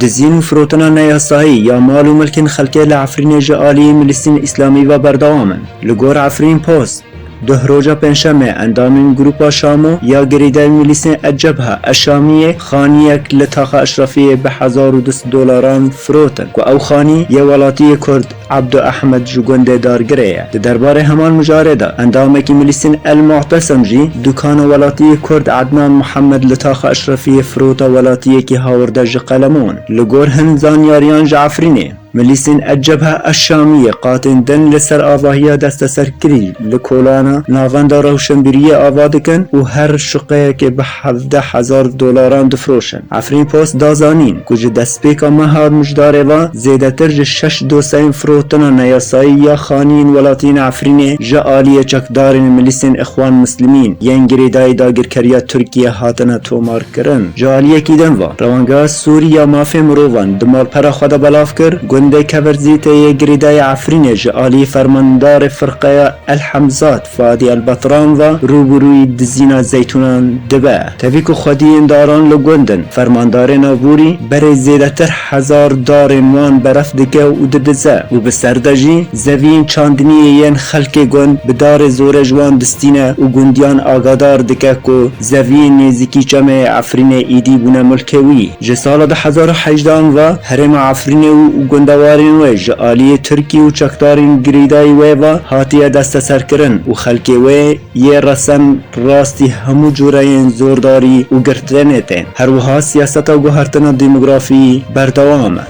Dizîn û firotina neyasayî ya mal û milkên xelkê li Efrînê ji aliyê Milîstên Îslamî ve berdewam in. Li gor Efrîn Post, duh roja Pêncşemê endamên grûpa Şamo ya girêdayî Milîstên El-Cebha El-Şamiyê xaniyek li Taxa Eşrefiyê bi hezar û du sed dolaran firotin ku ew xanî yê welatiyê Kurd Abdu Ehmed ji gundê Dargirê ye. Di derbarê heman mijarê de endamekî milîsên El Mu'tesem jî dukana welatiyê kurd Ednan Muhammed li Taxa Eşrefiyê firota welatiyekî hawirde ji qeleman. Li gor hin zanyariyan ji Efrînê, milîsên El Cebha El Şamiyê qatên din li ser avahiya desteserkirî li kolana navenda rewşenbîriyê ava dikin û her şuqeyekê bi hevdeh hezar dolaran difiroşin. Afripost da zanîn ku ji destpêka meha mijdarê ve zêdetir ji şeş dosyeyên firotina neyasayî ya xaniyên welatiyên Efrînê ji aliyê çekdarên milîsên Îxwan Mislîmîn yên girêdayî dagirkeriya Tirkiyê hatine tomarkirin. Ji aliyekî din ve, Rewangeha Sûrî ya Mafên Mirovan di malpera xwe de belav kir, gundê Keverzî tê yê girêdayî Efrînê ji aliyê fermandarê firqeya El Hemzat, Fadî Elbatran va, Rûbirûyî dizîna zeytûnan dibe. Tevî ku xwediyên daran li gund in, fermandarên aborî berê zêdetir hezar darên wan beref dike û didize û bi serde jî zeviyên çandiniyê yên xelkê gund bi darê zorê ji wan distîne û gundiyan agadar dike ku zeviyên nêzîkî çemê Efrînê îdî bûne milkê wî. Ji sala du hezar û hejdeh an ve herêma Efrînê û gundewarên wê ji aliyê Tirkî û çekdarên girîdayî wê ve hatiye desteserkirin û xelkê wê yê resem rastî hemû cureyên zordarî û girtinê tên. Her wiha siyaseta guhertina demografî berdewam e.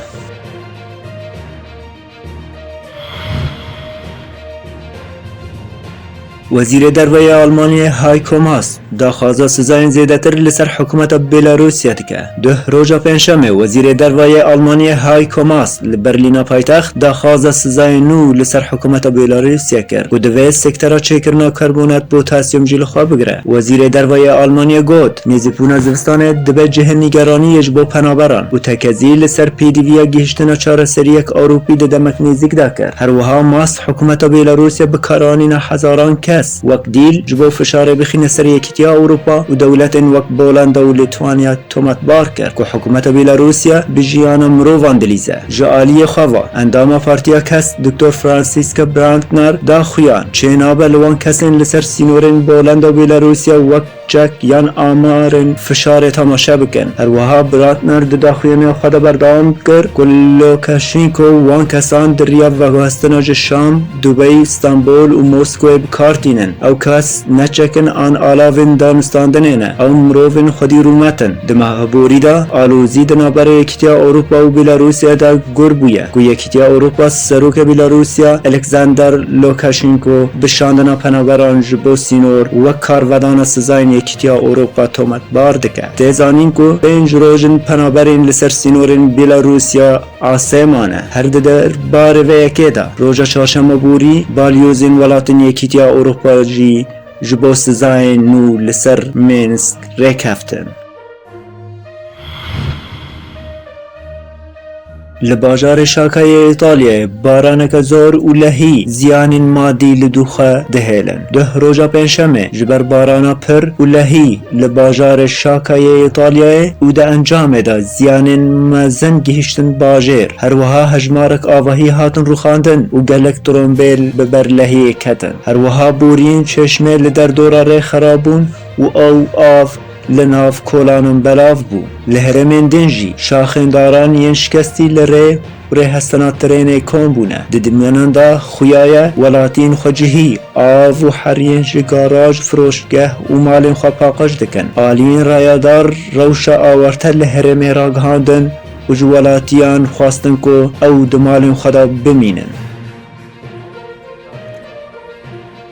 Wezîrê Derve ya Almanyayê Heiko Maas daxwaza sizayên zêdetir li ser hikûmeta Bêlarûsya dike. Duh roja Pêncşemê Wezîrê Derve yê Almanyayê Heiko Maas li Berlîna paytext daxwaza sizayên nû li ser hikûmeta Bêlarûsya kir ku divê sektera çêkirina karbonat, potasyum jî li xwe bigire. Wezîrê Derve yê Almanyê got, Nêzîbûna zivistanê dibe cihê nîgeraniyê ji bo penaberan û tekezî li ser pêdivîya gihîştina çareseriyek Ewropî di demek nêzîk de kir. Her wiha Mast hikûmeta Bêlarûsê bi kar anîne hezaran kes wek dîl ji bo fişarê bixîne ser Yekîtiya Ewropa û dewletên wek Bolanda û Lîtwanya. Tomatbar kir ku hikûmeta Bîlarûsya bi jiyana mirovan dilîze. Ji aliyê xwe ve, endama Partiya Kes Doktor Franziska Brantner da xuyan, çê nabe li wan kesên li ser sînorên Polenda û Bîlarûsya wek çek yan amarên fişarê temaşe bikin. Her wiha Brantner di daxuyaniyê xwe de berdewam kir ku Lûkaşenko wan kesan di riya veguhestina ji Şam, Dubey, Stenbol û Moskwe bi kar tînin. Ew kes ne çekin an alavên danûstandinê ne. Ew mirovên xwedî rûmet in. Di meha aborî de alozî di navbera Yekîtiya Ewropa û Bêlarûsyayê de gur bûye ku Yekîtiya Ewropa Serokê Bêlarûsya Alexander Lukashenko bi şandina penaberan ji bo sînor wek karvedana sizayên Yekîtiya Ewropa tometbar dike. Tê zanîn ku pênc roj in penaberên li ser sînorên Bêlarûsya, Aseman e, her di der barê vê yekê de. Roja çarşema borî balyozên welatên Yekîtiya Ewropayê jî ji bo sizayên nû li ser Mînsk rêkeftin. Li bajarê Şaka yê Îtalyayê baraneke zor û lehî ziyanên madî li dû xwe dihêlin. Duh roja Pêncşemê ji ber barana pir û lehî li bajarê Şaka yê Îtalyayê û di encamê de ziyanên mezin gihîştin bajêr, her wiha hejmarek avahî hatin rûxandin û gelek trombêl bi ber lehiyê ketin. Her wiha boriyên çeşmê li derdora rê xerab bûn û ew av li nav kolanan belav bû. Li herêmên din jî şaxên daran yên şikestî li rê, Kurê hestana tirênê kom bûne. Di dimyanan de xuya ye welatiyên xwe cihî, av û heriyên ji garaj, firoşgeh û malên xwe paqij dikin. Aliyên rayadar rewşa awarte li herêmê ragihandin û ji welatiyan xwestin ku ew di malên xwe de bimînin.